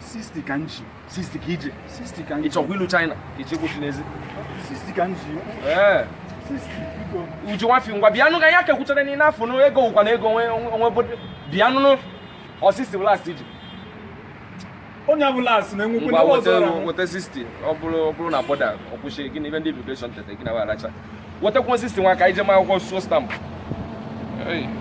60 ka nji 60 ka ije 60 ka nji ị chọkwa ilu China ka iche kwụchi n'ezi 60 ka nji ee uju nwafi ngwa bịanụ ka ya kekwuchara n'ile afọ nụ ego wụkwa na ego onwe bodo bịanụ nụ ọ 60 bụ last iji onye abụ last na enwekwe ngwa weta 60 ọ bụrụ ọ bụrụ na border ọ kwụsị gị n'ebe ndị immigration tete gị na wa aracha wetakwa 60 nwa ka ije ma akwụkwọ suo stamp